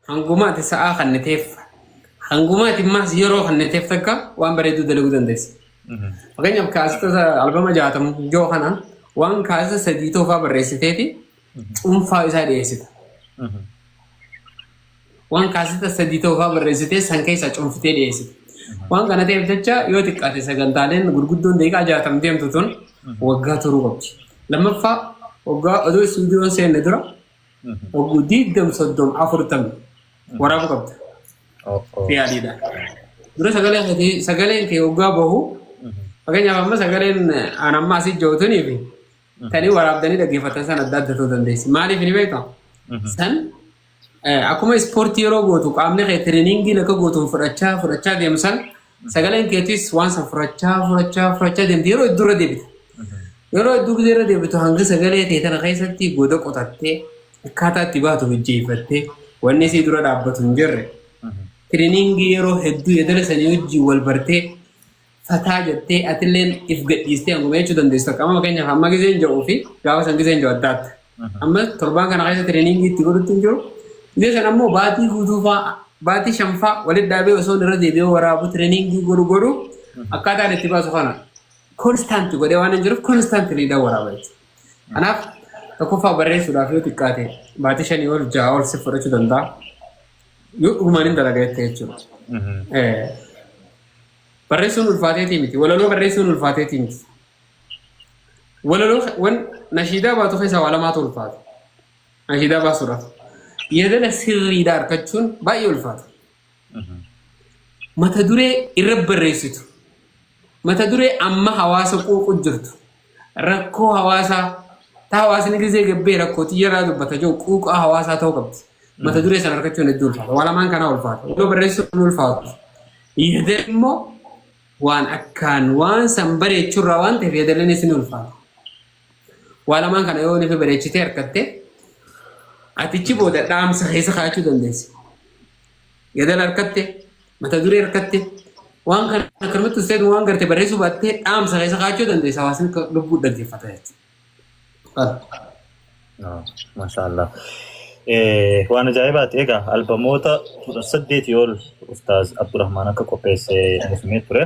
Hanguma ati sa'aa kanniteef hanguma ati maas yeroo kanniteef takka waan bareedduu dalaguu dandeessa. Fakkeenyaaf kaasota albama jaatama yoo kana waan kaasa sadii toofaa barreessiteeti cuunfaa isaa dhiyeessita. Waan kaasota sadii toofaa barreessitee san keessaa cuunfitee dhiyeessita. Waan kana ta'eef jecha yoo xiqqaate sagantaaleen gurguddoon daqiiqaa jaatam deemtu tun waggaa turuu qabdi. Lammaffaa waggaa oduu istuudiyoon seenne dura Oguu diigdam soddom afurtam waraabuu qabda. Fi adiidha. Dura sagaleen kee sagaleen kee oggaa bahu fakkeenyaaf amma sagaleen aan amma asii jootanii fi tanii waraabdanii dhaggeeffatan san adda adda ta'uu dandeessi. Maaliif ni beektaa? San akkuma ispoortii yeroo gootu qaamni kee tireniingiin akka gootuun fudhachaa fudhachaa deemu san Sagaleen keetis waan san furachaa furachaa furachaa deemti yeroo hedduu irra deebita. Yeroo hedduu gisee irra deebitu hanga sagalee ta'e tana keessatti goda qotattee akkaataa itti baatu hojjeeffattee wanni isii dura dhaabbatu hin jirre. Tiriiniingii yeroo hedduu yedala sanii wajjin wal bartee fataa jettee atilleen if gadhiistee hanguma jechuu dandeessu takka amma fakkeenyaaf amma giseen ja'uu fi gaafa san giseen ja'u adda adda. Amma torbaan kana keessa tireeningii itti godhutti hin jiru. Dhibee kana immoo baatii guutuufaa baatii shanfaa walitti dhaabee osoo irra deebi'ee waraabu tireeningii godhu godhu akkaataan itti baasu kana konstaanti godhee waan hin jiruuf konstaantiliidhaan waraaba jechuudha. Kanaaf tokkoffaa barreessuudhaaf yoo xiqqaate baatii shanii ol ja'a ol si fudhachuu danda'a. Yoo dhugumaan hin dalaga jettee jechuudha. Barreessuun ulfaateetii miti. Walaloo barreessuun ulfaateetii miti. walaloo ke- wan nashiidaa baatu keessaa waa lamaatu ulfaata. Nashiidaa baasuudhaaf. Yeedala sirriidha argachuun baay'ee ulfaata. Mata duree irra barreessitu. Mata duree amma hawaasa quuqu jirtu. Rakkoo hawaasaa ta hawaasni gizee gabbee rakkoo xiyyaraa dubbata jiru quuqaa hawaasaa ta'uu qabdi. Mata duree sana argachuun hedduu ulfaata. Waa lamaan kanaa ulfaata. Waloo barreessuun ulfaatu. Yeedala immoo waan akkaan waan san bareechuu irraa waan ta'eef yeedalleen isin ulfaata. Waa lamaan kana yoo nufi bareechitee harkatte atichi booda dhaamsa keessa kaa'achuu dandeessi. Yeedala harkatte mata duree harkatte waan kana akkanumatti usteetu waan garte barreessuu baattee dhaamsa keessa kaa'achuu dandeessa hawaasni akka lubbuu dhaggeeffata jechuudha. Maashaallah. Waan ajaa'ibaati egaa albamoota kudha saddeetii ol Ustaaz Abdurrahmaan akka qopheesse nuuf himee ture.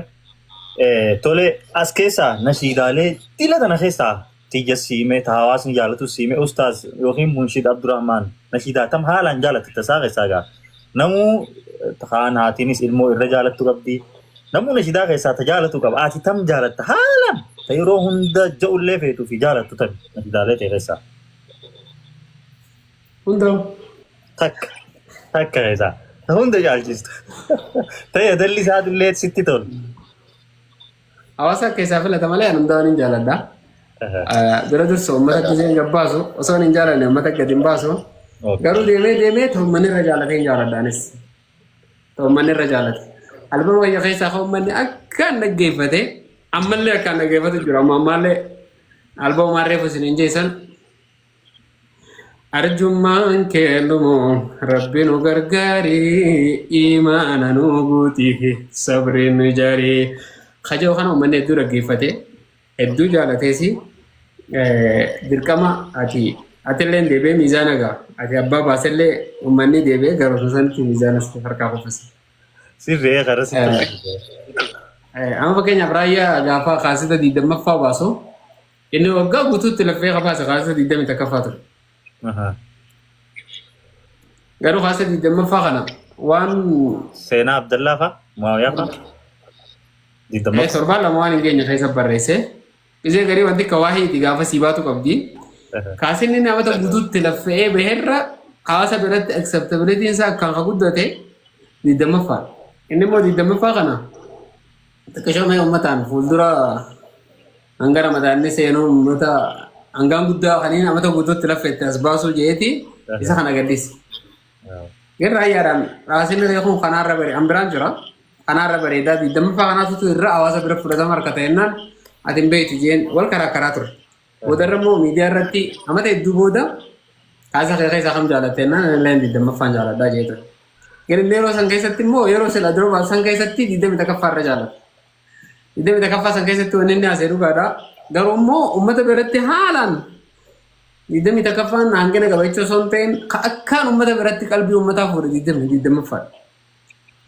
Tole as keessaa nashiidaalee dhila tana keessaa tiyya siimee ta hawaasni jaalatu siimee Ustaaz yookiin Munshiid Abdurrahmaan nashiidaa tam haalaan jaalatti tasaa keessaa egaa Namuu kaan haatiinis ilmoo irra jaalattu qabdi. Namuu nashidaa keessaa ta jaalatu qaba. Ati tam jaalatta haalan ta yeroo hunda ja'ullee feetuu fi jaalattu tami nashidaalee ta'e keessaa. Hunda Takka takka keessaa ta hunda jaalchistu. Ta yadalli isaatiillee sitti tolu. Hawaasa keessaa filata malee ani hundaa hin jaaladha. Bira dursa uummata gisee hin gabbaasu osoo hin jaalanne uummata gadi hin baasu. Garuu deemee deemee ta'ummanni irra jaalatee hin jaaladha anis. Ta'ummanni irra jaalate. Albama wayya keessaa kan uummanni akkaan dhaggeeffate ammallee akkaan dhaggeeffatu jira amma ammallee albama maarreef isin hin jeessan Arjummaan kee dhumu rabbi nu gargaari imaana nu guuti sabri nu jaari kajoo kana uummanni hedduu dhaggeeffate hedduu jaalateesi dirqama ati atillee deebi'ee miizaana gaa ati abbaa baasellee uummanni deebi'ee garuu sanatti miizaana sitti harkaa kuffisa. Sirree karaa sitti harkaa. Amma fakkeenyaaf raayyaa gaafa kaasita 20ffaa baasu. Inni waggaa guutuutti laffee kabaasa kaasa 20 takkaffaa ture. Aha. Garuu kaasa 20ffaa kana waan Seenaa Abdallaa fa'a? Muawiyaa fa'a? eh, Digdammaffaa? torbaan lama waan hin geenye keessa barreesse. Isee garii wanti akka waahii itti gaafa sii baatu qabdi. Aha. Kaasinni namata guutuutti laffe'ee baherra kaasa biratti acceptability isaa akkaan ka guddate 20ffaa. Inni immoo 20ffaa kana xiqqishoo mee uummataan fuuldura Hanga ramadaanni seenuu uummata hangaan guddaa kaniin amata guutuutti laffa itti as baasuu jeeti isa kana gaddisi. Irra ayyaadhaan raasinni reekuun kanaarra bare an biraan jira. Kanaarra bareedaa digdammaffaa kanaatutu irra hawaasa bira fudhatama harka ta'ennaan ati hin beektu jeen wal karaa karaa ture. Boodarra immoo miidiyaa irratti amata hedduu booda kaasa kee keessaa kam jaalatte jennaan ani illee digdammaffaan jaaladhaa jee ture. Garuu yeroo san keessatti immoo yeroo sila durba san keessatti digdamii takkaffaa irra jaaladha. Iddoo takaffaa san keessatti wanni inni haasa'e dhugaadha. Garuu immoo uummata biratti haalaan digdamii takaffaan hangina qaba jechuu osoo hin ta'in ka akkaan uummata biratti qalbii uummataa fuudhe digdamii digdammaffaadha.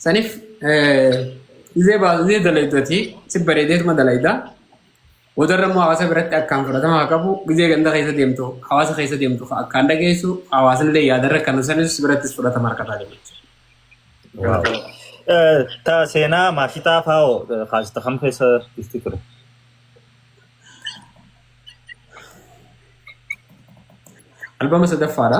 Saniif izee baazee dalaydu ati si bareedeetuma dalayda. Boodarra immoo hawaasa biratti akkaan fudhatama haa qabu. Gizee ganda keessa deemtu, hawaasa keessa deemtu akkaan dhageessu, hawaasni illee yaadarra kan sanis birattis fudhatama harkataa jiru jechuudha. Ta seenaa maashitaa faa'oo kaasita kam keessa dhufti ture? Albama sadaffaadha.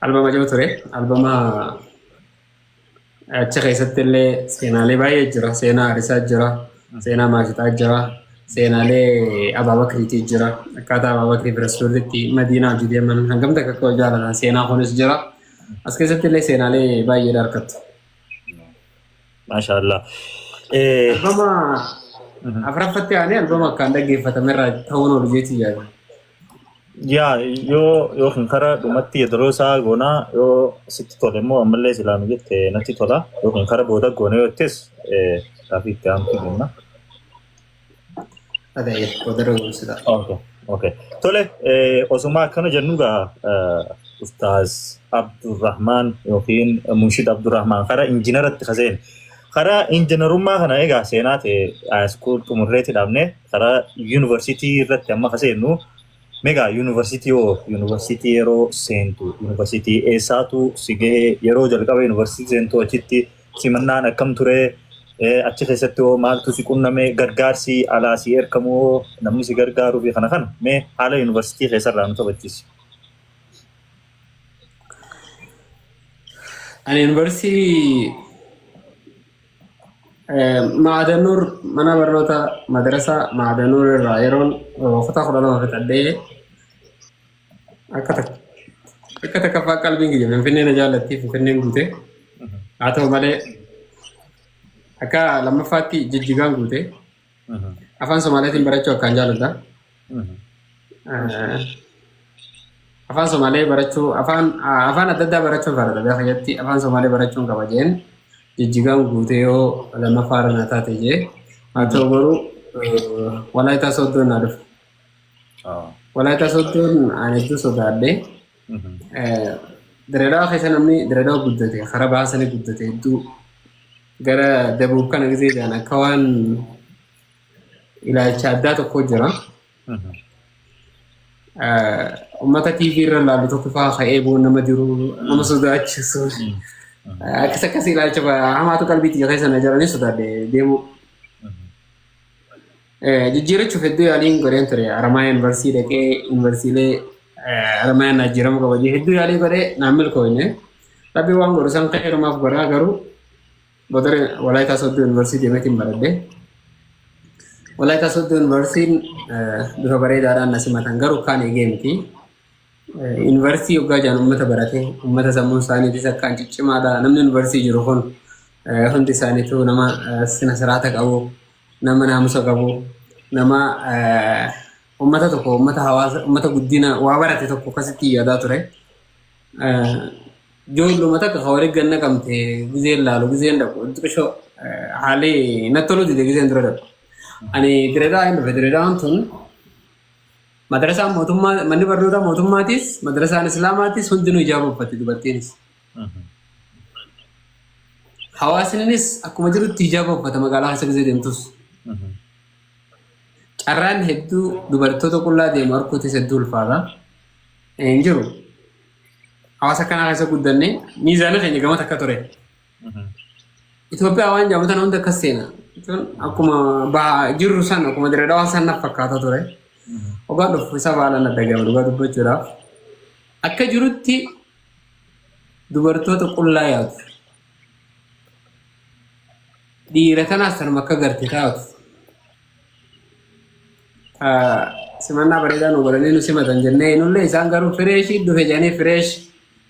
Albama ijoo ture. Albama achi keessatti illee seenaalee baay'ee jira. Seenaa Arisaa jira. Seenaa Maashitaa jira. Seenaalee Abaabakriitii jira. Akkaataa Abaabakrii fi Rasuullitti Madiinaa hojii deeman hangam takka akka jaalatan seenaa kunis jira. As keessatti illee seenaalee baay'ee argattu. Maashaallah. Albama afraffatti aanee albama akkaan dhaggeeffatamerraa ta'uun ol jeetii yaada. Yaa yoo yoo kan karaa dhumatti yedaroo isaa goonaa yoo sitti tole immoo ammallee silaa nu jette natti tola yoo kan karaa booda goone yoo jettees gaaffii itti aantu jenna. Adayee wadaroo gorsita. Okay. Okay. Tole osuma akkana jennu gaa Ustaaz Abdurrahmaan yookiin Munshid Abdurrahmaan karaa injiinaratti kaseen karaa injiinarummaa kana egaa seenaa ta'e haayiskuul xumurreetti dhaabnee Karaa yuunivarsiitii irratti amma ka seennu megaa yuunivarsiitii hoo yuunivarsiitii yeroo seentu yuunivarsiitii eessaatu si gahee yeroo jalqaba yuunivarsiitii seentu achitti simannaan akkam ture achi keessatti hoo maaltu si qunname gargaarsi alaa si erkamu hoo namni si gargaaruu fi kana kana mee haala yuunivarsiitii keessarraa nu taphachiisi. Ani yuunivarsiitii Maadanuur mana barnoota madrasaa Maadanuur irraa yeroon kutaa kudha lama fixadhee akka akka takkaffaa qalbiin kiyya Finfinnee na jaallattii Finfinneen guute. Haa ta'u malee akka lammaffaatti jijjigaan guute. Afaan Somaaleetiin barachuu akkaan jaaladha. Eh, Afaan Somaalee barachuu, afaan ah, afaan adda addaa barachuun faaradha. Biyya keessatti afaan Somaalee barachuun qaba jeen jijjigaan guutee yoo lammaffaa irra na taate jee. Haa ta'u garuu eh, Walaayitaa Sooddoon na dhufe. Walaayitaa Sooddoon ani hedduu sodaadhe. Diredawa keessa namni diredawa guddate kara bahaa sanii guddate hedduu gara dabuuf kana gisee jedhan akka waan ilaalcha addaa tokko jira. Uummata TV irra laalu tokko fa'aa ka'ee bu'uun nama jiru nama sodaachisu. Akkas akkas ilaalcha hamaatu qalbiitti keessa na jiranii sodaadhe deemuu. Jijjiirachuuf hedduu yaaliin godheen ture. Haramaayaa yuunivarsiitii dhaqee yuunivarsiitiilee Haramaayaa naa jijjiiramu qaba jedhee hedduu yaalii godhee naan milkooyne. Rabbi waan godhu san qeerumaaf godhaa garuu godare Walaayitaa Soddoo yuunivarsiitii deemeetiin baradhe. Walaayitaa Soddoo yuunivarsiitiin bifa bareedaadhaan na simatan garuu kaan eegee miti. Yuunivarsiitii yoggaa jaan uummata barate uummata sammuun isaaniitis akkaan ciccimaadha. Namni yuunivarsiitii jiru kun hundi isaaniitu nama sina siraata qabu, nama naamusa qabu, nama uummata tokko uummata hawaasa uummata guddina waa barate tokko akkasitti yaadaa ture. Ijoolluma takka kan waliin ganna qabamte gizeen laalu gizeen dhaqu xiqqishoo haalli natti toluu dide gizeen dura dhaqu. Ani direedaa hin dhufe direedaan tun Madrasaan mootummaa manni barnootaa mootummaatis madrasaan islaamaatis hundinuu ijaaba uffatti dubartiinis. Hawaasnis akkuma jirutti ijaaba uffata magaalaa keessa gisee deemtus. Carraan hedduu dubartoota qullaa deemu arguutis hedduu ulfaata. Hin jiru. Hawaasa kanaa keessa guddanne miizaana keenya gama takka ture. Itoophiyaa waan jaabatan hunda akkas seena. Jechuun akkuma bahaa jirru san akkuma dirree dhawaa san naf fakkaata ture. Ogaan dhufu isa baalan adda gama dhugaa dubbachuudhaaf. Akka jirutti dubartoota qullaa yaadu. Dhiira tanaas tanuma akka garte taatu. Ah, Simannaa bareedaa nu godhanii nu simatan jennee nullee isaan garuu fireeshii dhufe jedhanii fireesh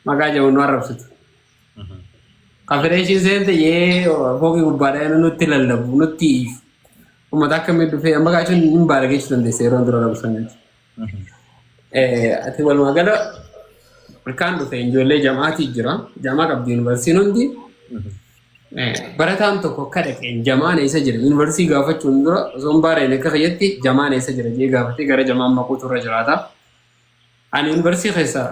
maqaa jedhu nu arrabsitu. Ka fireeshiin seente yee fooqii gubbaadhaa inni nutti lallabu nutti iif. Uummata akkamii dhufee amma kaa jechuun hin baala geessu dandeessa yeroo dura labu saniiti. Ati walumaa gala ilkaan dhufe ijoollee jam'aatii jira. Jam'aa qabdi yuunivarsiitiin hundi. Barataan tokko akka dhaqeen jamaan eessa jira yuunivarsiitii gaafachuun dura osoo hin baareen akka fayyatti jamaan eessa jira jee gaafatee gara jamaan maquutu irra jiraata. Ani yuunivarsiitii keessa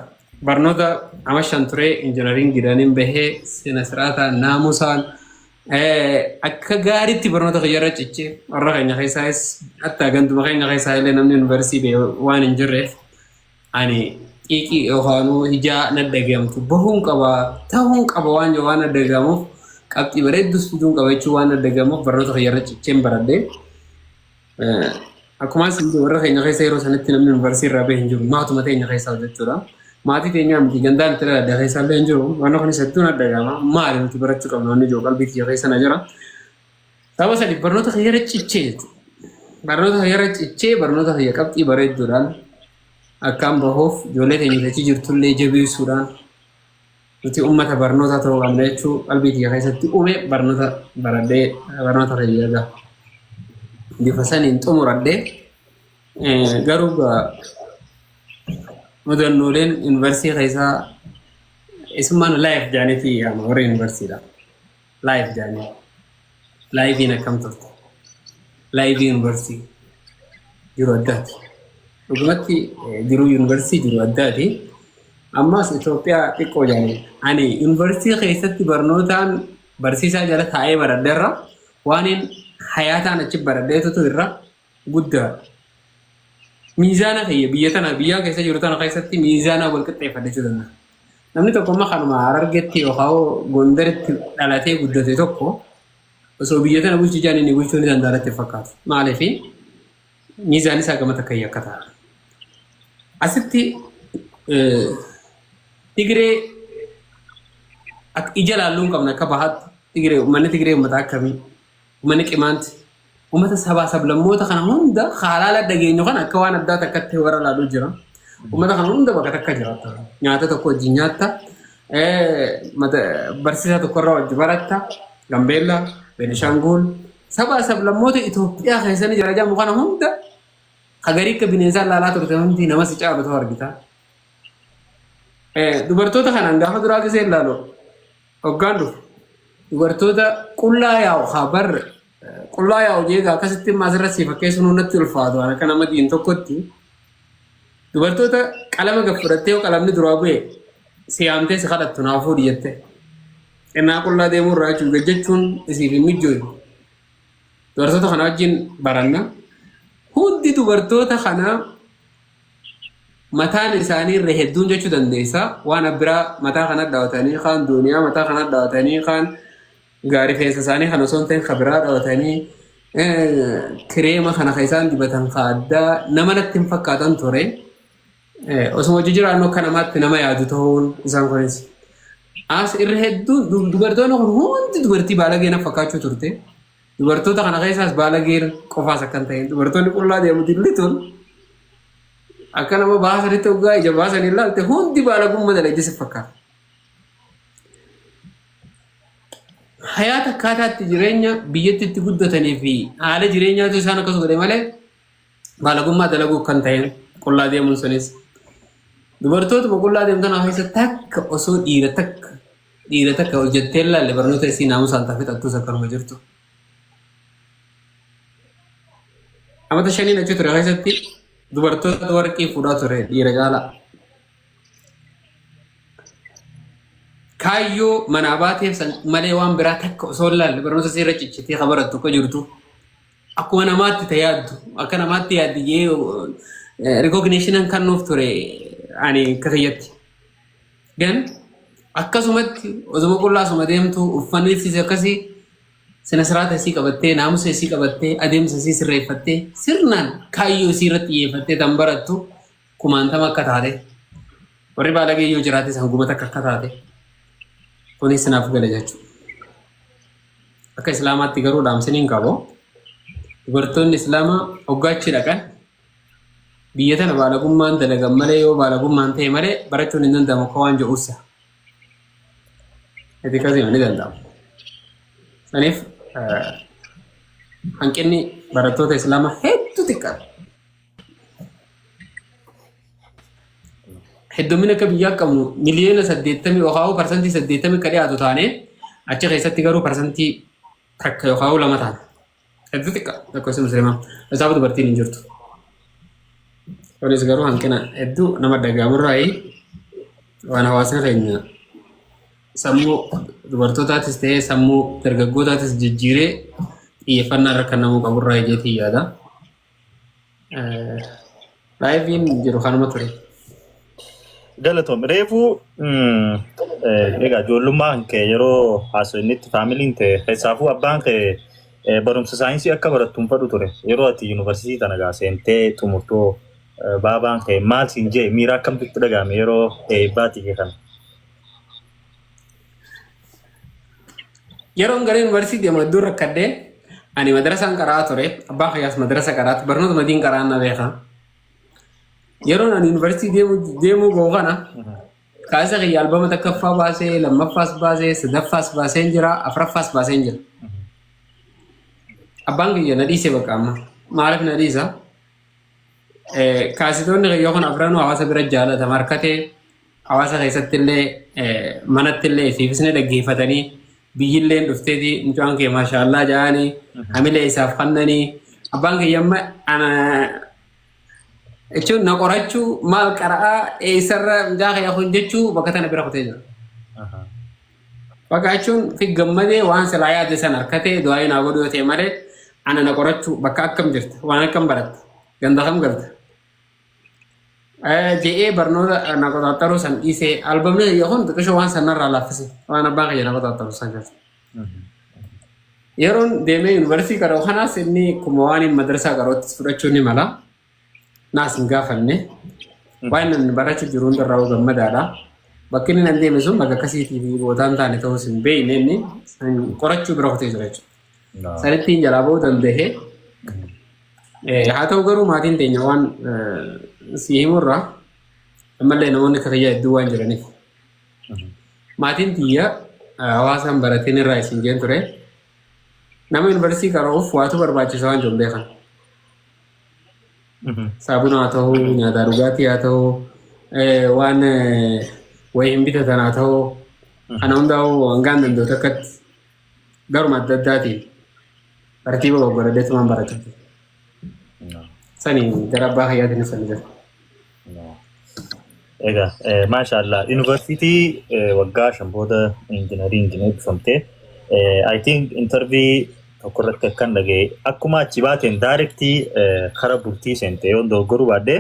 barnoota ama shan ture injinariin gidaniin bahee sina siraataan naamusaan akka gaariitti barnoota kiyya irra cichee warra keenya keessaayis hatta ganduma keenya keessaa illee namni yuunivarsiitii ba'e waan hin jirreef ani xiiqii yookaanuu ijaa na dhagahamtu bahuun qaba ta'uun qaba waan yoo waan na dhagahamuuf qabxii bareeddus fiduun qaba jechuun waan na dhagahamuuf barnoota kiyya irra cicheen baradhee. Akkuma isin warra keenya keessa yeroo sanatti namni yuunivarsiitii irraa bahe hin jiru. Maatuma teenya keessaa jechuudha. Maatii teenyaa miti gandaan itti dhaladha keessaa illee hin jiru. Waan kunis hedduun adda gaama. Maali nuti barachuu qabna wanni jiru qalbii kiyya keessa na jira. Saba sadi barnoota kiyya irra cichee jechuudha. Barnoota kiyya irra cichee barnoota kiyya qabxii bareedduudhaan akkaan bahuuf ijoollee teenya achi jirtullee jabeessuudhaan Nuti ummata barnootaa ta'uu qabna jechuu qalbii kiyya keessatti uume barnoota baradhee barnoota fayyada. Bifa saniin xumuradhee garuu mudannooleen yuunivarsiitii keessaa isummaan laayif jaaniitii yaama warri yuunivarsiitiidha. Live Dani. Live in akkam turte? Live University. Jiru addaati. Dhugumatti eh, jiru University jiru addaati. Ammas Itoophiyaa xiqqoo jaani. Ani University keessatti barnootaan barsiisaa jala taa'ee baradheerra. Waaniin hayaataan achi baradheetutu irra guddaadha. Miizaana kiyya biyya tana biyyaa keessa jiru tana keessatti miizaanaa wal qixxeeffachuu danda'a. Namni tokko amma kanuma Harargeetti yookaan Gondaritti dhalatee guddate tokko osoo biyya tana bulchuu jaan inni bulchuu ni danda'a irratti fakkaatu. Maaliif miizaan isaa gama takka akka ta'a. Asitti Tigiree ija laalluun qabna akka bahaatti Tigiree uummanni Tigiree uummata akkamii? Uummanni Qimaanti uummata sabaa sablammoota kana hunda haalaala dhageenyu kana akka waan addaa takkatti warra laaluu jira. Uummata kana hunda bakka takka jiraata. Nyaata tokko wajjin nyaatta. Barsiisaa tokkorraa wajji baratta. Gambeellaa, Beenishaanguul. Sabaa sablammoota Itoophiyaa keessatti jira jedhamu kana hunda hagarii akka bineensaa laalaa turte hundi nama si caalu ta'u argita. Dubartoota kanaan gaafa duraa gisee ilaalu Hoggaan dhufu dubartoota qullaa yaa'u haa bar qullaa yaa'u jeegaa akkasitti immoo asirratti si fakkeessuun hundatti ulfaatu waan akka nama diin tokkotti dubartoota qalama gad fudhattee yoo qalamni duraa bu'e si yaamtee si kadhattu naa fuudhi jettee xinnaa qullaa deemuu irraa jechuun gad jechuun isiif hin mijjootu dubartoota kana wajjin baranna hundi dubartoota kanaa mataan isaanii irra hedduun jechuu dandeessa waan abbiraa mataa kana dhawatanii kaan duuniyaa mataa kana dhawatanii kaan gaarifeensa isaanii kan osoo hin ta'in kabiraa dhawatanii kireema kana kan isaan dibatan ka addaa nama natti hin fakkaatan ture osoo hojii jiraannu akka namaatti nama yaadu ta'uun isaan kunis as irra hedduun dubartoonni kun hundi dubartii baalagee na fakkaachuu turte Dubartoota kana keessaas baalageen qofaas akkan ta'e dubartoonni qullaa deemuti lituun akka nama baasanitti hoggaa ija baasanii ilaalte hundi baalagummaa dalagdi si fakkaata. Hayaata akkaataatti jireenya biyyatti itti guddatanii fi haala jireenyaatu isaan akkas godhe malee baalagummaa dalaguuf kan ta'een qullaa deemuun sunis dubartootuma qullaa deemtan keessa takka osoo dhiira takka dhiira takka hojjettee ilaalle barnoota isii naamusaan tafe xattuus akkanuma jirtu. Amata shaniin achi ture keessatti dubartoota warqii fuudhaa ture dhiira caalaa. Kaayyoo manaa baateef san malee waan biraa takka osoo ilaalle barnoota isii irra ciccitee kan barattu akka jirtu. akkuma namaatti ta yaaddu akka namaatti yaaddi jee rikogneeshiniin kan nuuf ture ani akka kiyyatti. Gan akkasumatti osuma qullaa asuma deemtu uffanni siis akkasii sina siraata isii qabattee naamusa isii qabattee adeemsa isii sirreeffattee sirnaan kaayyoo isii irratti xiyyeeffattee tan barattu kumaantama akka taate warri baalagee yoo jiraate san gubata akka akka taate kunis sinaaf gala jechuudha. Akka Islaamaatti garuu dhaamsin hin qabu. Dubartoonni Islaamaa hoggaachi dhaqan biyya tana baalagummaan dalagan malee yoo baalagummaan ta'e malee barachuun hin danda'amu akka waan jedhuussa. Itti akkasii ni danda'amu. Saniif hanqinni barattoota Islaamaa hedduu xiqqaadha. heddummina akka biyyaa qabnu miliyoona saddeettamii yookaan parsantii saddeettamii akka dhiyaatu taane achi keessatti garuu parsantii takka yookaan lama taana. Hedduu xiqqa lakkoofsi musliimaa. Isaaf dubartiin hin jirtu. Kunis garuu hanqina hedduu nama dhaga'amurraa waan hawaasni keenya sammuu dubartootaatis ta'ee sammuu dargaggootaatis jijjiiree xiyyeeffannaa irra kan namuu qaburraa ijeetii yaada. Laayiviin jiru kanuma ture. Galatoom reefuu egaa ijoollummaan kee yeroo haasofnitti faamiliin kee keessaafuu abbaan kee barumsa saayinsii akka barattu hin fedhu ture yeroo ati yuunivarsiitii tana gaa seentee xumurtoo baabaan kee maal siin jee miira akkamtitti dhaga'ame yeroo eebbaatii kee kana. Yeroon gara yuunivarsiitii deemu hedduun rakkadhee ani madrasaan qaraa ture. Abbaa kiyyaas madrasa qaraatu barnoota madiin qaraan na beeka. Yeroon ani yuunivarsiitii deemu deemuu ga'u kana kaasa kiyya albama takkaffaa baasee lammaffaas baasee sadaffaas baasee jira afraffaas baasee jira. Abbaan kiyya na dhiise bakka amma maaliif na dhiisa? Kaasitoonni kiyya kun afranuu hawaasa bira jaallatama harkatee Hawaasa keessattillee manattillee isiifis ni dhaggeeffatanii biyyilleen dhufteeti mucaan kee maashaallah ja'anii hamilee isaaf kannanii abbaan kiyya amma ana jechuun na qorachuu maal qara'aa eessarra mucaa kiyya kun jechuu bakka tana bira kutee jira. Bakka jechuun fi gammadee waan silaa yaade san harkatee du'aayi naa godhu yoo ta'e malee ana na qorachuu bakka akkam jirta waan akkam baratta ganda kam galta Je'ee barnoota na qoxaxaruu san dhiisee albamni kiyya kun xiqqishoo waan sanarraa laaffise waan abbaan kiyya na qoxaxaru san keessa. Yeroon deemee yuunivarsiitii qara'u kanaas inni kuma waan inni madarsaa qara'utti fudhachuu ni mala. Naas hin gaafanne. Waan inni barachuu jiru hundarraa hoo gammadaadha. Bakki inni nan deeme sun bakka akkasiitii fi bootaan taane ta'uus hin beekne inni qorachuu bira kutee jira jechuudha. Sanittiin jalaa ba'uu danda'e. Haa ta'u garuu maatiin teenya waan si himurraa ammallee namoonni akka kiyyaa hedduu waan jiraniif. Maatiin tiyya hawaasaan barateen irraa isin jeen ture. Nama yuunivarsiitii qara'uuf waatu barbaachisa waan jiru beekan. Saabuna haa ta'u, nyaataa dhugaatii haa ta'u, waan wayii hin bitatan haa ta'u, kana hundaa'uu hangaan danda'u takkatti garuma adda addaatiin tartiiba goggoradeetumaan barachaa ture. Sani gara abbaa fayyaatiin ibsan jira. Egaa eh, maashaallah yuunivarsiitii eh, waggaa shan booda injinarii injinii eebbifamtee eh, I think intervii tokko irratti akkan dhaga'e akkuma achi baateen daayirektii eh, kara bultii seente yoo dogoggoruu baadhee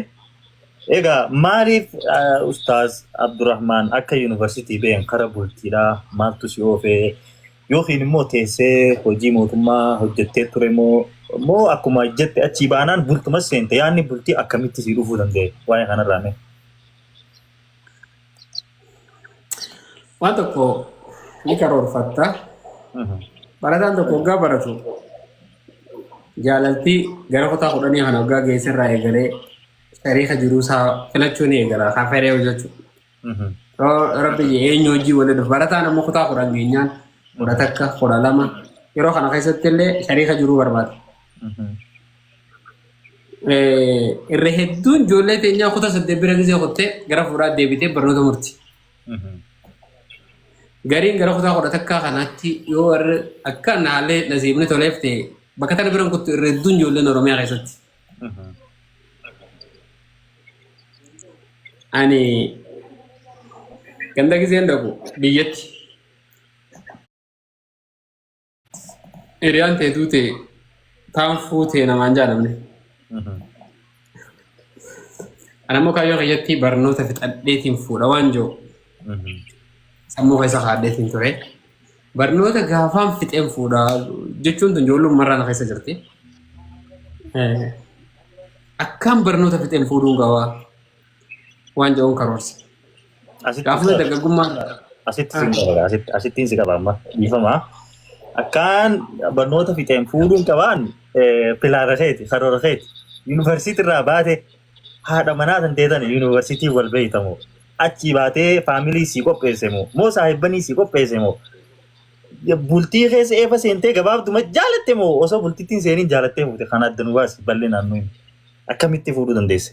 Egaa maaliif ah, Ustaaz Abdurrahmaan akka yuunivarsiitii ba'een kara bultiidhaa maaltu si oofee yookiin immoo teessee hojii mootummaa hojjettee ture moo moo akkuma jette achii baanaan bultuma seente yaadni bultii akkamitti si dhufuu danda'e waa'ee kanarraa mee. Waan tokko ni karoorfatta. Mhm. Barataan tokko waggaa baratu jaalaltii gara kutaa kudhanii kana waggaa geesserraa eegalee Tariika jiruu isaa filachuu ni eegala. Kan fedhee hojjechuu. Rabbi eenyu hojii waliin barataan amma kutaa kudhan geenyaan kudha takka kudha lama yeroo kana keessatti illee tariika jiruu barbaada. Irra hedduun ijoollee teenyaa kutaa saddeet bira gisee kuttee gara fuudhaa deebitee barnoota murti. Gariin gara kutaa kudha takkaa kanaatti yoo warri akka naalee nasiibni toleef ta'e bakka tana biran kuttu irra hedduun ijoolleen Oromiyaa keessatti. Ani ganda giseen dhaqu biyyatti hiriyaan tee duute taan fuutee namaan jaalamne. Ani ammoo kaayyoo kiyyatti barnoota fixadheetiin fuudha waan jiru sammuu keessa kaadheetiin ture. Barnoota gaafaan fixeen fuudha jechuun tun ijoollummaa irraa na keessa jirti. Eh, Akkaan barnoota fixeen fuudhuun gawaa waan jedhuun karoorse. Asitti Gaafuma si- dargaggummaa irraa. asitti si qaba asitti asittiin si qaba amma dhiifama. Akkaan barnoota fixeen fuudhuun qabaan eh, pilaana keeti karoora keeti yuunivarsiitii irraa baate haadha manaa tan teetan yuunivarsiitii wal beeyta moo achii baatee faamilii sii qopheesse moo moo saahibbanii sii qopheesse moo bultii keessa eefa seentee gabaabduma jaalatte moo osoo bultittiin seeniin jaalattee fuute kan adda nu baasi bal'inaan nuyi akkamitti fuudhuu dandeesse.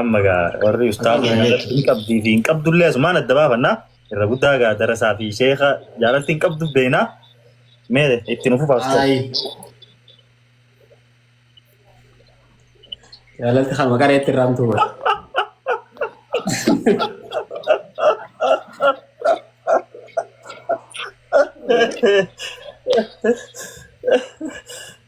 Amma gaa warri ustaaza Amma jaalatti jechuudha. hin qabdii fi hin qabdullee asumaan adda baafannaa irra guddaa gaa darasaa fi sheeka jaalatti hin qabdu beeknaa mee itti nu fufaas ta'u. Ayi. Jaalatti kan maqaa reetti irraan tuura.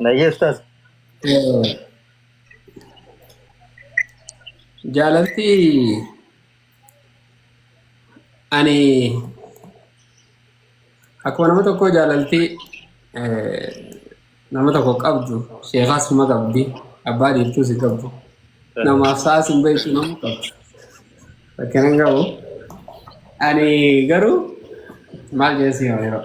Nayyeessaas. Jaalalti ani akkuma nama tokkoo jaalalti Nama tokko qabdu sheekaa suma qabdi abbaa dhiirtuu si qabdu namaaf sa'a sin beektu nama qabdu rakkina hin qabu ani garuu maal jeessi yoo yeroo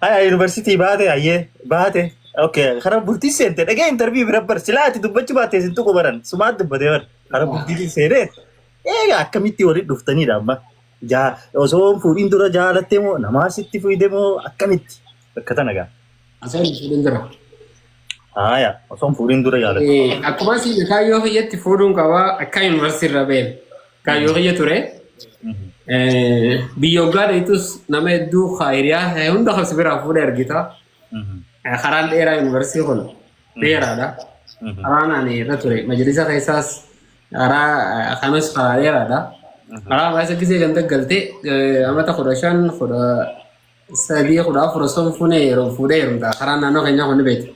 Haya yuunivarsiitii baate hayyee baate. Okay karaa bultii seente dhagee intarviyuu bira bar silaa ati dubbachuu baattee sin tuqu baran sumaat dubbatee bar karaa bultii seenee eega akkamitti walitti dhuftaniidha amma jaa osoo hin fuudhin dura jaalattee moo namaa sitti fuudhe moo akkamitti Bakka tana gaa. Asaan fuudhin jira. Haaya, osoo hin fuudhin dura yaala. Akkuma siin kaayyoo kiyyatti fuudhuun qaba akka yuunivarsiitii irra ba'een kaayyoo kiyya ture. Biyya hoggaa dheetus nama hedduu hiriyaa ta'e hunda kan si biraa fuudhee argita. Karaan dheeraa yuunivarsiitii kun dheeraadha. Karaan ani irra ture majalisa keessaas karaa kanas karaa dheeraadha. Karaa baay'ee gisee kan daggalte amata kudha shan kudha sadii kudha afur osoo hin fuune yeroo fuudhee heerumta karaa naannoo keenyaa kun ni beekta.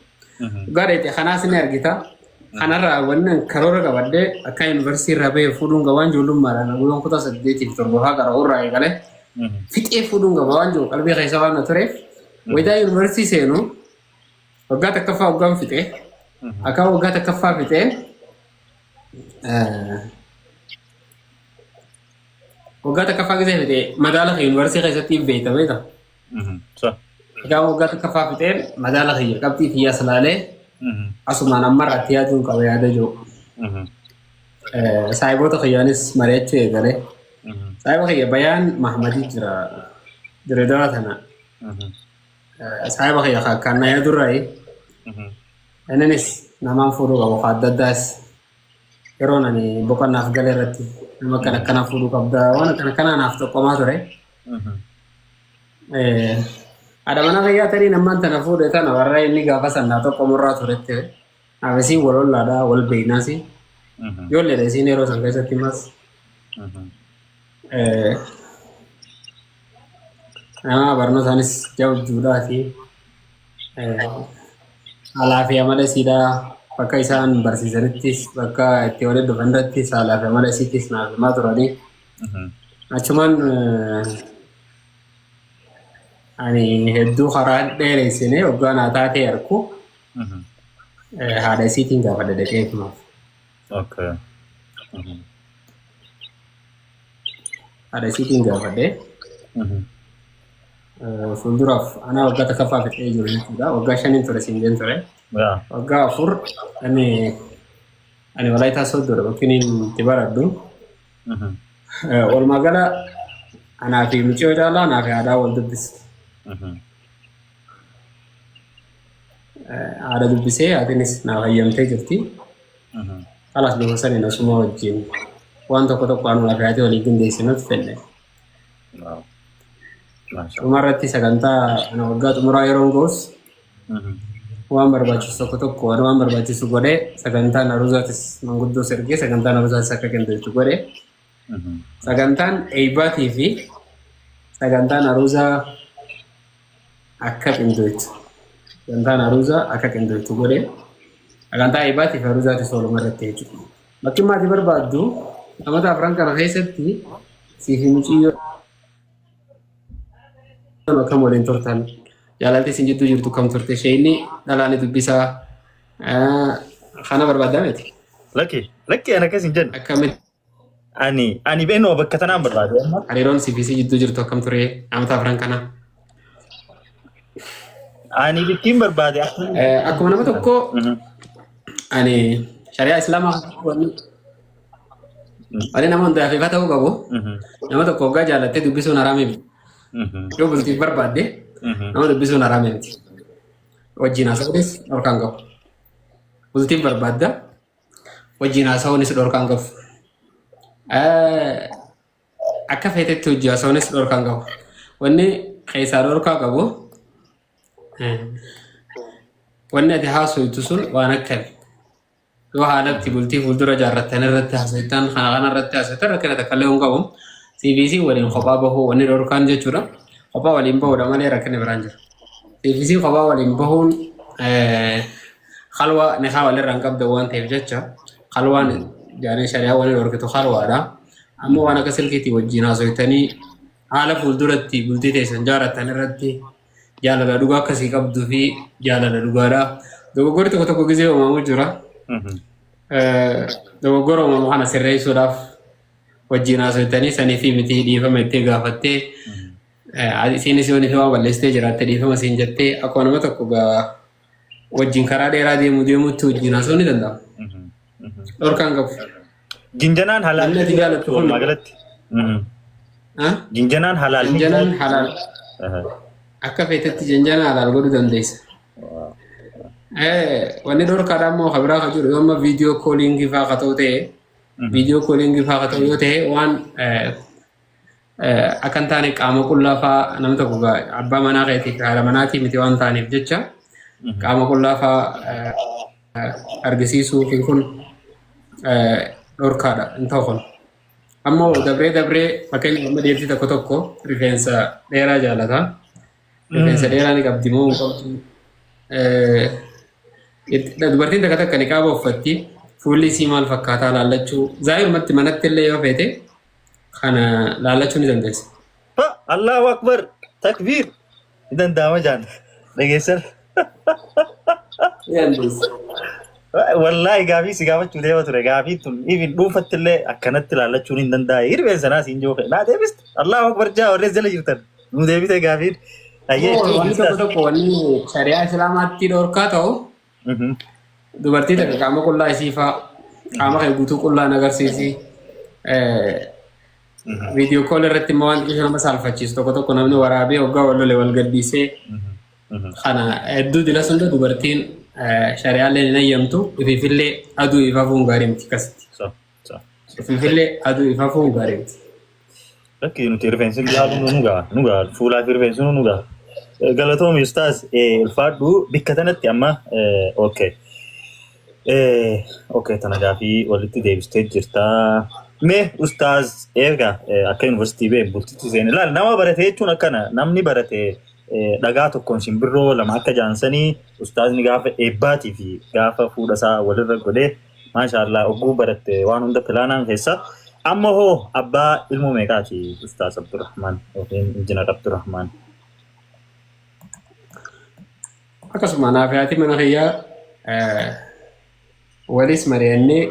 Dhugaa dheete kanaas ni argita. Kanarraa wanni an karoora qabadde akka yuunivarsiitii irraa bahee fuudhuun qaba waan ijoollummaadhaan guyyaan kutaa saddeetiif torbafaa gara irraa eegalee fixee fuudhuun qaba waan jiru qalbii keessa waan na tureef wayitaa yuunivarsiitii seenu waggaa takkaffaa waggaan fixee akka waggaa takkaffaa fixee eh, Waggaa takkaffaa keessa fixee madaala kee yuunivarsiitii keessatti beekta beekta. Mhm. Sa. Egaa waggaa takkaffaa fixee madaala kiyya qabxii kiyyaa salaalee Mhm. asumaan ammarraatti yaaduun qaba yaada jiru. Mhm. Eh, Saahiboota kiyyaanis mari'achuu eegalee. Mhm. Saahiba kiyya Bayaan Mahmadii jira Dirreedawaa tana. Mhm. Eh, Saahiba kiyya kan kan na yaadurraayi. Mhm. Innis namaan fuudhuu qabu kan adda addaas yeroon ani boqannaaf gale irratti nama kan akkanaa fuudhuu qabda waan akkan akkanaa naaf tokkomaa ture. Haadha manaa fayyaa tarii nammaan tana fuudhe tana warra inni gaafa sannaa tokko murraa turetti abisiin wal ollaadhaa wal beeynaasi. Ijoolleedha isiin yeroo san keessatti mas. Nama barnootaanis jabduudhaa fi haalaa fi amala isiidhaa bakka isaan barsiisanittis bakka itti waliin dhufan irrattis haalaa fi amala isiittis naaf himaa turanii. Achumaan ani hedduu karaa dheeressinee waggaa naa taatee arku haadha isiitiin gaafadha dhaqee kunuuf. Okay. Mhm. Haadha isiitiin gaafadhee Mhm. eh, fuulduraaf anaa waggaa takkaffaa fixee jiru jechuudha. Waggaa shaniin ture siin jeen ture. Yaa. Waggaa afur ani ani walaayitaa sooddoodha yookiin itti baradhu. Mhm. Eh, Walumaa gala anaa fi mucayyoo caalaa anaa fi haadhaa wal dubbisa. Mhm. haadha dubbisee haatinis naaf hayyamtee jirti. Kalaas bifa saniin asuma wajjin waan tokko tokko anuma fi haati waliif qindeessinuuf fenne. Dhuma irratti sagantaa ana waggaa xumuraa yeroon ga'us waan barbaachisu tokko tokko waan waan barbaachisu godhee sagantaan aruzaatis manguddoo sergee sagantaan aruzaatis akka qindeessu godhee Sagantaan eeybaatii fi sagantaan aruuzaa akka qindoytu sagantaan aruuzaa akka qindoytu godhe sagantaa eeybaatii fi aruuzaati sooluma irratti jechuudha. Bakki maati barbaaddu amata afran kana keessatti siif miciyyoo akkam waliin turtan jaalalti isin jidduu jirtu kam turte sheeyni dhalaani dubbisaa kana barbaaddaa miti. Lakki lakki ana akkas hin jennu. Akkamitti Ani ani beenuma bakka tanaan barbaade amma. Hariiroon CBC jidduu jirtu akkam ture amata afran kana? Ani bittiin barbaade akka. Eh, Akkuma nama tokko Mhm. ani shari'aa islaamaa wanni wanni nama hundaaf ifa ta'uu qabu Mhm. nama tokko hoggaa jaalattee dubbisuun haraami miti. Mhm. Yoo bultiif barbaadde Mhm. nama dubbisuun haraami miti. Wajjin haasa'uunis dhorkaan qabu. Bultiif barbaadda wajjin haasawuun si dhorkaan qabu. Akka feetetti hojii haasawuun si dhorkaan qabu. Wanni keessaa dhorkaa qabu wanni ati haasawutu sun waan akkami. Yoo haalatti bultii fuuldura jaarrattan irratti haasawittan kana kana irratti haasawittan rakkina takka illee hin qabu. CBC waliin kophaa bahuu wanni dhorkaan jechuudha. Kophaa waliin bahuudha malee rakkina biraan jira. CBC kophaa waliin bahuun Halwa nikaa walirraa hin qabdan waan ta'eef jecha halwaan jaaree shari'aa walirra horkitu halwaadha. Amma waan akka silkiitii wajjin haasofitanii haala fuulduratti bultii teessan jaaratan irratti jaalala dhugaa akkasii qabduu fi jaalala dhugaadha. Dogoggorri tokko tokko gizee uumamu jira. Eh, Dogoggora uumamu kana sirreessuudhaaf wajjin haasofitanii sanii fi miti dhiifama itti gaafattee eh, isiinis yoo nifi waan balleessitee jiraatte dhiifama siin jettee akkuma nama tokko gaa wajjin karaa dheeraa deemu deemutti wajjin haasoo ni danda'ama. Dhorkaan qabu. Jinjanaan Namni halaal ati jaallattu kun- walumaa galatti. Ha? Jinjanaan halaal. Janjanaan halaal Aha. akka feetetti janjanaa halaal godhuu dandeessa. Eh, Wanni dhorkaadha immoo kan biraa kan jiru yoo amma viidiyoo kooliingii fa'aa ka ta'u ta'e viidiyoo kooliingii fa'aa ka ta'u yoo ta'e waan eh, Akka hin taane qaama qullaa fa'aa namni tokko gaa- abbaa manaa keetii fi haadha manaatii miti waan ta'aniif jecha qaama qullaa fa'aa eh, argisiisuu fi kun eh, dhorkaadha hin ta'u kun. Ammoo dabree dabree fakkeenyaaf amma dhiirtii tokko tokko rifeensa dheeraa jaalata. Rifeensa dheeraa ni qabdi moo hin qabdu? Eh, it- Dubartiin takka takka niqaaba uffatti fuulli isii maal fakkaataa laallachuu zaayirumatti manatti illee yoo feete kana laalachuu ni dandeessa. Ha, Allahu Akbar, takbiir. Ni danda'ama jaan. Dhageessan. Ni dandeessa. Wallaahi gaafii si gaafachuu deema ture. Gaafii tun even dhuunfatti illee akkanatti laallachuun hin danda'e. Hirreen sanaa siin jooke. Naa deebiste. Allahu Akbar jaa warreen jala jirtan. Nuu deebite gaafiin. Ayyee. Wanni tokko tokko wanni shari'aa islaamaatti dhorkaa ta'u Dubartii takka qaama qullaa isii faa qaama kee guutuu qullaan agarsiisi. Viidiyoo kool irratti immoo waan xiqqoo nama saalfachiisu tokko tokko namni waraabee hoggaa wal lole wal gaddiisee kana hedduu dila sunda dubartiin shari'aallee hin hayyamtu ifiifillee aduu ifafuun gaarii miti akkasitti. Finfinnee aduu ifa fuun bareeti. Lakki nuti rifeensi biraa kun nu gaha nu gaha fuulaa fi rifeensi nu gaha. Galatoomi ustaas ulfaadhu bikka tanatti amma okay. Okay tana gaafii walitti deebistee jirta. Mee ustaas eega akka yuunivarsiitii bee bultitti seene laal nama barate jechuun akkana namni barate dhagaa tokkoon simbirroo lama akka jaansanii ustaasni gaafa eebbaatii fi gaafa fuudhasaa walirra godhee Maashaallah oguu baratte waan hunda pilaanaan keessa. Amma hoo abbaa ilmoo meeqaati Ustaaz Abdurrahmaan yookiin Injinar Abdurrahmaan? Akkasuma anaa fi haati mana kiyyaa eh, walis mari'annee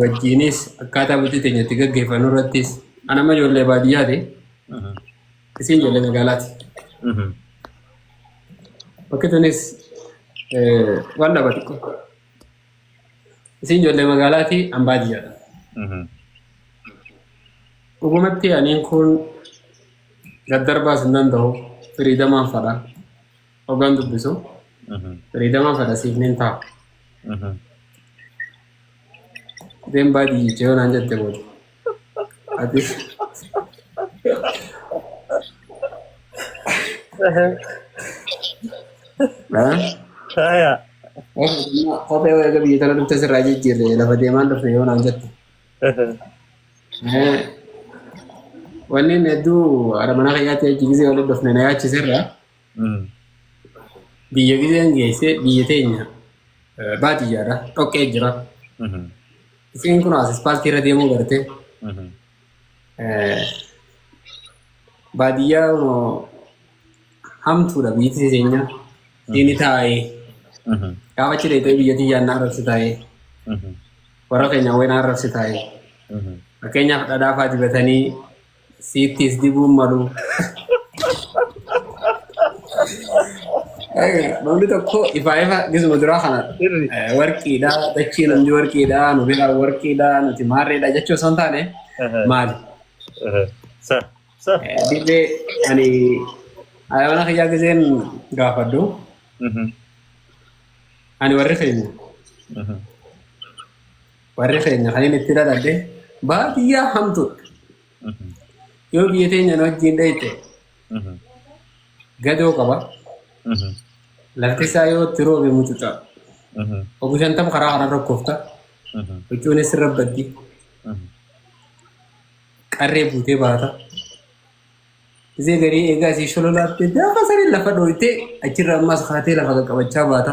wajjiinis akkaataa bultii teenya itti gaggeeffannu irrattis ana amma ijoollee baadiyyaati Mhm. isiin ijoollee magaalaati. Mhm. Bakki tunis eh, waan dhaba xiqqoo. Isin ijoollee magaalaati an baadiyyaadha. Dhugumatti aniin kun daddarbaas hin danda'u firiidamaan fadha. Ogaan dubbisu firiidamaan fadha siif nin ta'a. Deem baadiyyicha yoo naan jette booda. Atis. Faaya. Kophee wayii biyya tana dhufte sirraa jijjiirre lafa deemaan dhufte yoo naan jette. Wanni hedduu haadha manaa kiyyaatti achi gisee walitti dhufne na yaachisirra. Biyya gizeen geesse biyya teenya eh, baadiyyaadha dhoqqee jira. Isiin kun as ispaaltii irra deemuu garte. Eh, Baadiyyaa kunoo hamtuudha biyyi teenya. Inni taa'ee gaafa achi deemtee biyya tiyyaan na arrabsi taa'ee warra keenya wayii na arrabsi taa'ee fakkeenyaaf dhadhaa fa'aa dibatanii Siitti is dibuun maluu. Namni tokko ifaa ifa gisuma duraa kana Sirri. eh, warqiidha, dachii namni warqiidha, nu bira warqiidha, nuti maarreedha jechuu osoo hin taane maali? Sa. Sa. Eh, Dirree ani ayyaana kiyyaa giseen gaafadhu ani warri keenya Warri keenya kan inni itti dhaladhe baadiyyaa hamtuudha. Yoo biyya teenyaan wajjin dheeyte gadoo qaba. Lafti isaa yoo itti roobe mucuca. Obbo Shantam karaa karaa rakkofta. Huccuunis irra baddi. Qarree buutee baata. Isee garii eegaa isii shololaattee gaafa sanii lafa dhooytee achirra ammas kaatee lafa qaqqabachaa baata.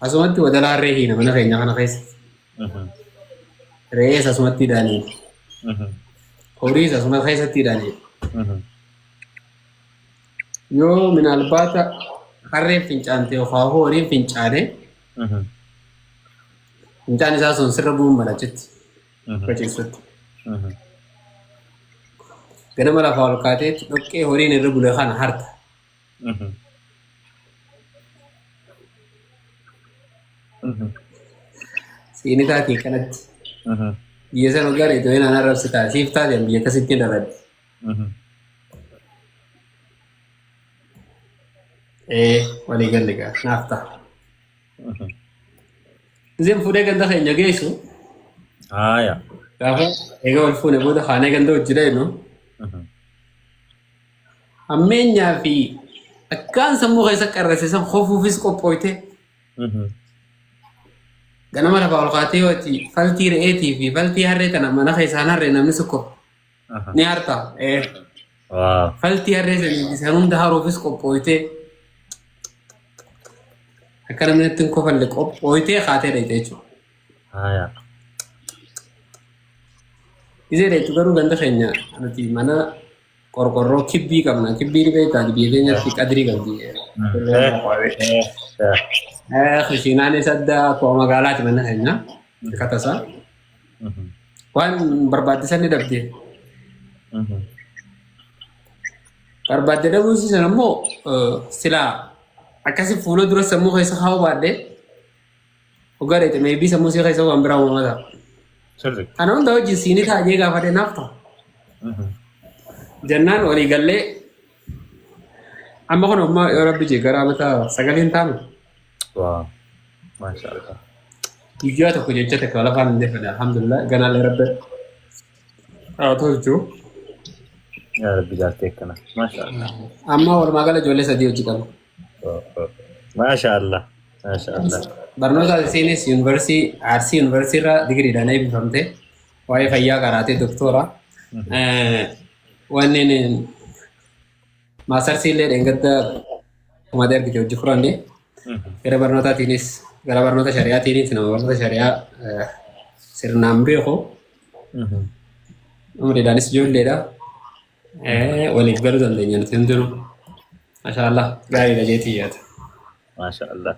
Asumatti wadala harree hiina mana keenya kana keessa. Re'ees asumatti hidhaanii. Horiis asuma keessatti hidhaanii. Yoo minaalbaata harreen fincaante yookaan horiin fincaane fincaan isaa sun sirra bu'uun malachitti. Bachissutti. Ganama lafaa ol kaateetti dhoqqee horiin irra bule kana harta. Mhm. Mhm. Siini taatee kanatti. Mhm. Biyya sana gara itoo hin aanaa rabsi ta'a. Siif taate biyya tasitti dhaladhe. Mhm. Ee walii galle gaa naaf ta'a. Mhm. Isin fuudhee ganda keenya geessu Haaya. gaafa egaa wal fuune booda kaanee ganda hojii dha jennu. Mhm. Hammeenyaa fi akkaan sammuu keessa qarrase san hofuufis qophooyte. Ganama lafaa ol kaatee yoo ati faltii re'eetii fi faltii harree tana mana keessaan harree namni tokko ni harta. Eh, Waaw. Faltii harree sanii fi san hunda haruufis qophooyte. Akka namni natti hin kofalle qophooytee kaatee dha jechuudha. Haya. Isee dha jechuudha garuu ganda keenya nuti mana Qorqorroo kibbii qabna. Kibbii ni beektaa biyya keenyatti qadrii qabdi. Kushiinaanis adda akkuma magaalaati mana keenya. Akkata isaa. Waan barbaachisan ni dhabde. Barbaadde dhabuun siisan ammoo silaa akkasi fuula dura sammuu keessa kaa'uu baadhee Dhugaa dheete meebii sammuu si keessa waan biraa uumamaa ta'a. Sirri. Kana hunda wajjin siinii ta'a jee gaafadhe naaf ta'a. Jennaan walii gallee amma kun amma yoo rabbi jee gara amata sagaliin taanu Waa. Maasha Allah. guyyaa tokko jecha takka lafaan hin deeffanne alhamdulillah ganaallee rabbi haa tolchu. Yaa Rabbi jaaltee akkana. Maasha Allah. Amma walumaa gala ijoollee sadii hojii qaba. Maasha Allah. Maasha Allah. Barnoota ati seenes yuunivarsiitii Arsii yuunivarsiitii irraa digiriidhaan eebbifamte. Waa'ee fayyaa qaraatee doktoora. Wanneen maasarsii illee dheengadda kumaatee argite hojii furanne. Gara barnootaatiinis gara barnoota shari'aatiinis nama barnoota shari'aa sirnaan beeku. Umriidhaanis ijoolleedha. Eh, waliif garuu dandeenya nuti hundinuu. Masha Allah. Gaariidha jeetii yaada. Maasha Allah.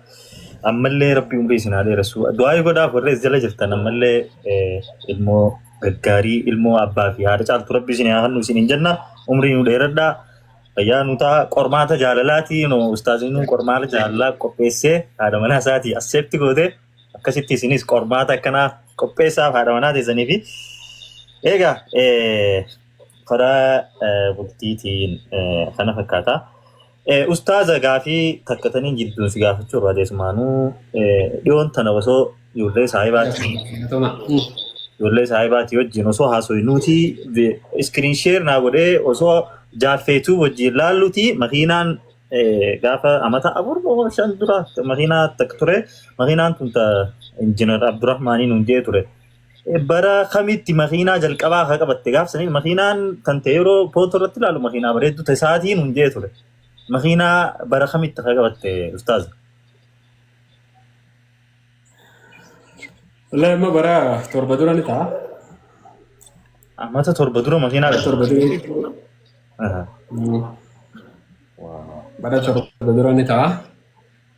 Ammallee rabbi umrii isin haa dheeressu. Du'aayi godhaaf warri as jala jirtan ammallee eh, ilmoo gaggaarii ilmoo abbaa fi haadha caaltu rabbi isin haa hannu isin hin jenna. Umrii nu dheeradhaa. Fayyaa nu ta'a. Qormaata jaalalaati. No, ustaaziin nu qormaata jaalalaa qopheessee haadha manaa isaatii asseetti goote. Akkasitti isinis qormaata akkanaa qopheessaaf haadha manaa teessanii fi egaa eh, karaa bultiitiin kana fakkaata. Ustaaza gaafii takkatanii jidduun si gaafachuu irraa deessumaanuu dhiyoon tana osoo ijoollee saahibaatiin ijoollee saahibaatii wajjin osoo haasawee nuti iskiriin sheer naa godhee osoo jaaffeetuu wajjin laalluti makiinaan gaafa amata afur moo shan dura makiinaa takka ture makiinaan tun ta injinar Abdurrahmaanii nuun jee ture. bara kamitti makiinaa jalqabaa haa qabatte gaafsanii makiinaan kan ta'e yeroo pootu irratti ilaalu makiinaa bareedduu ta'e sa'aatiin hin jee ture. Makiinaa bara kamitti haa qabatte ustaaz? Wallahi amma bara torba dura ni ta'a. Ammata torba dura makiinaa Bara torba dura ni ta'a. Aha. Mm. Bara torba dura ni ta'a.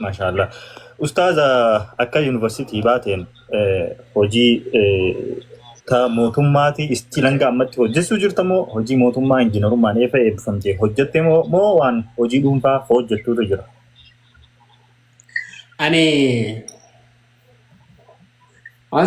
Maashaallah. Ustaaza akka yuunivarsiitii baateen eh, hojii eh, ta mootummaatii istiin hanga ammatti hojjechuu jirta moo hojii mootummaa injiinarummaan eefa eebbifamtee hojjette moo moo waan hojii dhuunfaa hojjettuutu jira? Ani waan